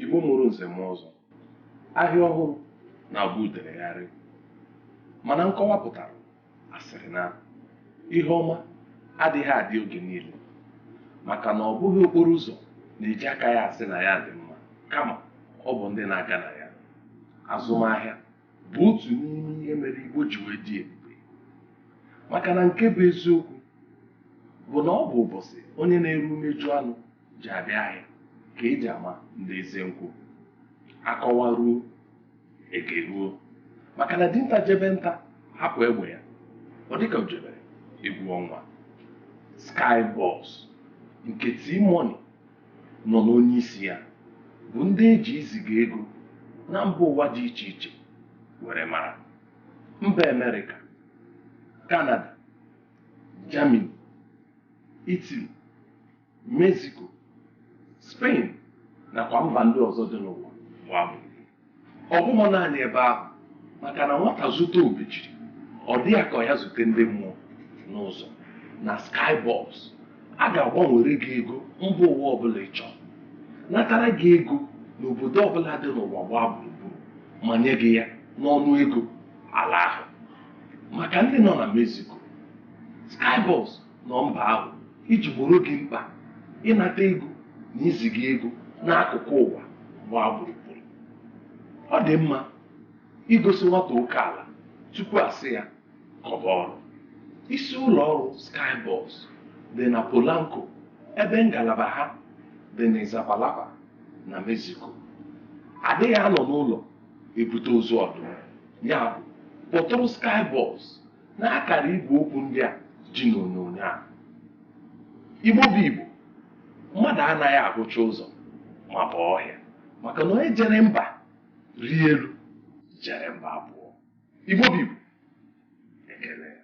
Igbo mụrụ nze mụọ ọzọ ahịa ọhụrụ na-abụ uderegharị mana nkọwa pụtara a sịrị na ihe ọma adịghị adị oge niile maka na ọ bụghị okporo ụzọ na-eji aka ya asị na ya dị mma kama ọ bụ ndị na-aga na ya azụmahịa bụ otu n'ime ihe mere Igbo ji wee dị ebube maka na nke bụ eziokwu bụ na ọ bụ ụbọchị onye na-ere umeju anụ ji abịa ahịa ka eji ama ndị eze nkwụ akọwa ruo eke ruo maka na dinta jebe nta hapụ egbe ya ọ dịka o jebere egwu ọnwa Skyboss nke T-Money nọ n'onye isi ya bụ ndị eji iziga ego na mba ụwa dị iche iche were mara mba Amerịka Kanada Germany Italy Mexico Spain nakwa mba ndị ọzọ dị n'ụwa gbaa ọ bụghị naanị ebe ahụ maka na nwata zute obejiri ọ dị ya ka ya zute ndị mmụọ n'ụzọ na Skyboss a ga-agbanwere gị ego mba ụwa ọbụla ị chọrọ natara gị ego n'obodo ọbụla dị n'ụwa gbaa gburugburu ma nye gị ya n'ọnụ ego ala ahụ maka ndị nọ na Mexico Skyboss nọ mba ahụ iji gbooro gị mkpa ịnata ego na iziga ego n'akụkụ ụwa gbaa gburugburu ọ dị mma igosi nwata oke ala tupu a sị ya kọba ọrụ isi ụlọ ọrụ Skyboss dị na Polanco ebe ngalaba ha dị n'Iztapalapa na Mexico adịghị anọ n'ụlọ ebute ozu ọdụm ya bụ kpọtụrụ Skyboss n'akara igwe okwu ndị a dị n'onyonyo a igbo bụ igbo mmadụ anaghị ahụcha ụzọ maba ọhịa maka na onye jere mba rie elu jere mba abụọ igbo bụ igbo ekele ya